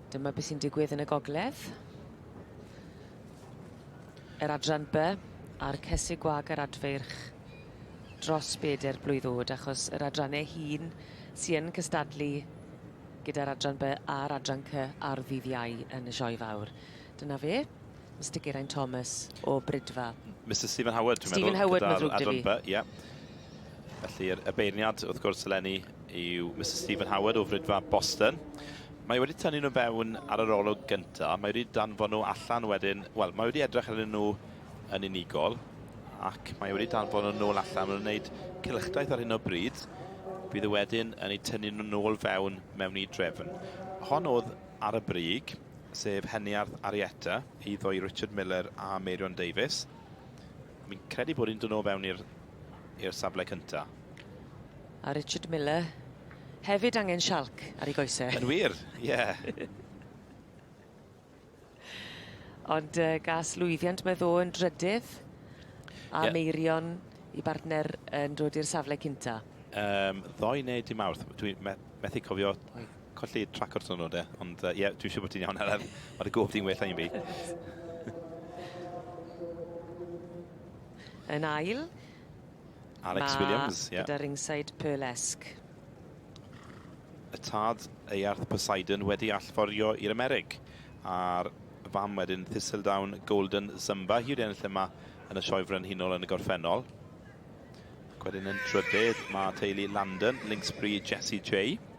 Dyma beth sy'n digwydd yn y gogledd. Yr adran B a'r cesu gwag yr adfeirch dros bedair blwydd oed, achos yr adrannau hun sy'n yn cystadlu gyda'r adran B a'r adran C ar ddydd Iau yn y sioe fawr. Dyna fe. Mister Geraint Thomas o Brydfa. Mister Stephen Howard, dwi'n meddwl. Stephen Howard, mae'n ddrwg dy fi. Ie. Felly, y beirniad, wrth gwrs, eleni, yw Mister Stephen Howard o Frydfa Boston. Mae wedi tynnu nhw fewn ar yr olwg gyntaf. Mae wedi danfon nhw allan wedyn. Wel, mae wedi edrych arnyn nhw yn unigol ac mae wedi danfon nhw'n ôl allan. Mae'n gwneud cylchdaith ar hyn o bryd. Bydd y e wedyn yn ei tynnu nhw'n ôl fewn mewn i drefn. Hon oedd ar y brig. sef Heniarth Arietta, eiddo i Richard Miller a Meirion Davies. Mi'n credu bod hi'n dod o fewn i'r safle cyntaf. A Richard Miller hefyd angen sialc ar ei goesau. Yn wir, ie. Yeah. Ond uh, gas lwyddiant mae ddo yn drydydd a yeah. meirion i bartner yn dod i'r safle cynta. Um, ddoe neu dim awrth, dwi'n methu cofio colli trac o'r twnnel de, ond ie, uh, yeah, dwi'n siŵr bod ti'n iawn araf. Mae dy gof ti'n well na un fi. Yn ail. Alex Ma Williams, ie. Yeah. Gyda ringside Pearlesque. Y tad Earth Poseidon wedi allforio i'r Amerig. A'r fam wedyn Thistledown Golden Zumba. Hi wedi ennill yma yn y sioe frenhinol yn y gorffennol. Ac wedyn yn trydydd mae teulu Landon, Linksbury, Jessie J.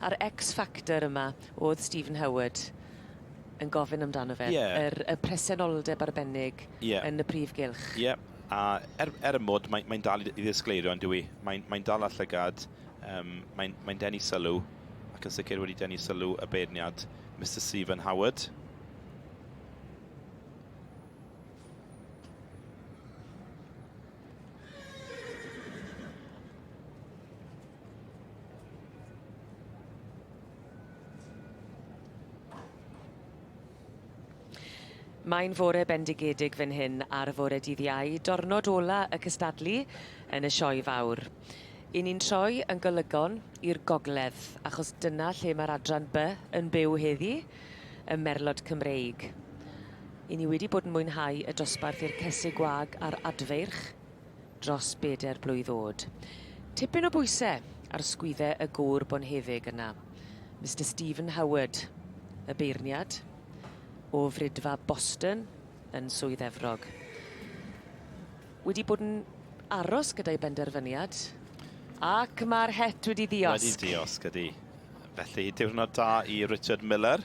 A'r X factor yma o'dd Stephen Howard yn gofyn amdano fe. Ie. Yr y presenoldeb arbennig Ie. yn y prif gylch. Ie. A er er y mod mae mae'n dal i i ddisgleirio on'd yw 'i? Mae'n mae'n dal â llygad, yym mae'n mae'n denu sylw ac yn sicr wedi denu sylw y beirniad Mister Stephen Howard. Mae'n fore bendigedig fan hyn ar fore dydd Iau, dornod ola y cystadlu yn y sioe fawr. I ni'n troi yn golygon i'r gogledd, achos dyna lle mae'r adran B yn byw heddi, y merlod Cymreig. I ni wedi bod yn mwynhau y dosbarth i'r Cesig Gwag a'r Adfeirch dros bedair blwydd oed. Tipyn o bwyse ar sgwydde y gŵr bonheddig yna, Mister Stephen Howard, y beirniad o Frydfa Boston yn Swydd Efrog. Wedi bod yn aros gyda'i benderfyniad, ac mae'r het wedi ddiosg. Wedi diosg, ydy. Felly, diwrnod da i Richard Miller.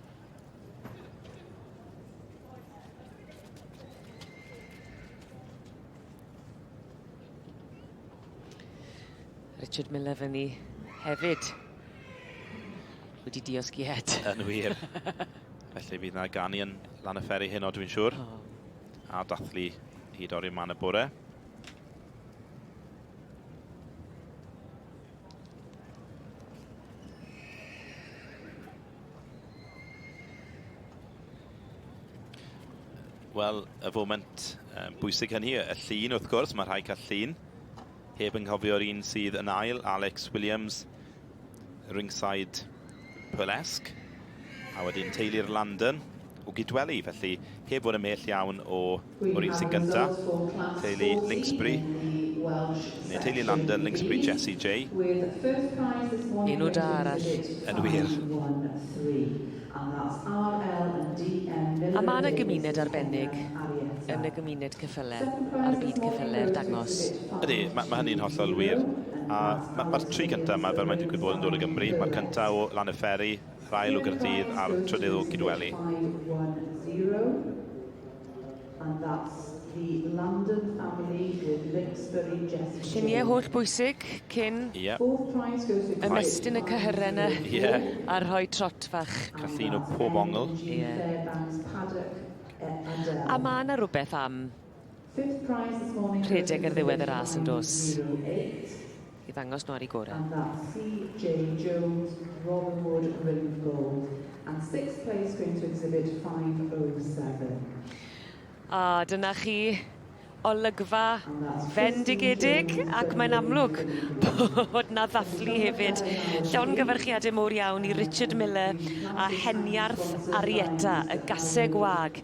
Richard Miller fyny hefyd. Wedi diosgiad. Yn wir. Felly fydd na ganu yn lan y fferi hyn o dwi'n siŵr. Oh. A dathlu i dorri man y bore. Wel, y foment um, bwysig hynny, y llun wrth gwrs, mae rhai cael llun. Heb yng nghofio'r un sydd yn ail, Alex Williams, ringside Pwlesg, a wedyn Teulu'r London o Gydweli, felly heb fod yn mell iawn o O'r un sy'n gynta, teulu Linksbury, neu teulu Landen, Linksbury, Jessie Jay. Enw da arall. Yn wir. A mae yna gymuned arbennig yn y gymuned ceffyle a'r byd ceffyle i'r dangos. Ydy, mae mae hynny'n hollol wir. A ma' ma'r tri cynta yma, fel mae'n digwydd bod, yn dod o Gymru. Mae'r cynta o Lannerferry, yr ail o Gaerdydd a'r trydydd o Gydweli. And that's the London family with Lixbury Jessie. Lluniau holl bwysig cyn Ie. ymestyn y cyhyrau yna Ie. a rhoi trot fach. Caffeine o pob ongl. Ie. A mae yna rhywbeth am rhedeg ar ddiwedd y ras yn dos? i ddangos nhw ar eu gorau. And that see Jay Jones, Robin Wood, Rhyndd Gold and sixth place going to exhibit 507. A dyna chi olygfa fendigedig ac mae'n amlwg bod na ddathlu hefyd. Llongyfarchiadau mowr iawn i Richard Miller a Heniarth Arietta, y gaseg wag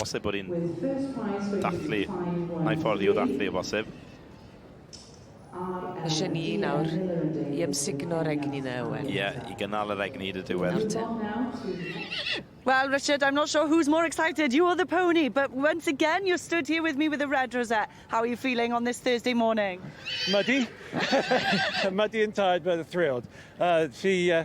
Bosib bod hi'n dathlu, na i ffordd i'w ddathlu o bosib. Eisiau ni nawr i ymsugno'r egni na Owen? Ie, i gynnal yr egni hyd y diwedd. Nawr te. Well, Richard, I'm not sure who's more excited, you or the pony, but once again you're stood here with me with a red rosette. How are you feeling on this Thursday morning? Muddy. Muddy and tired, but thrilled. Uh, she, uh,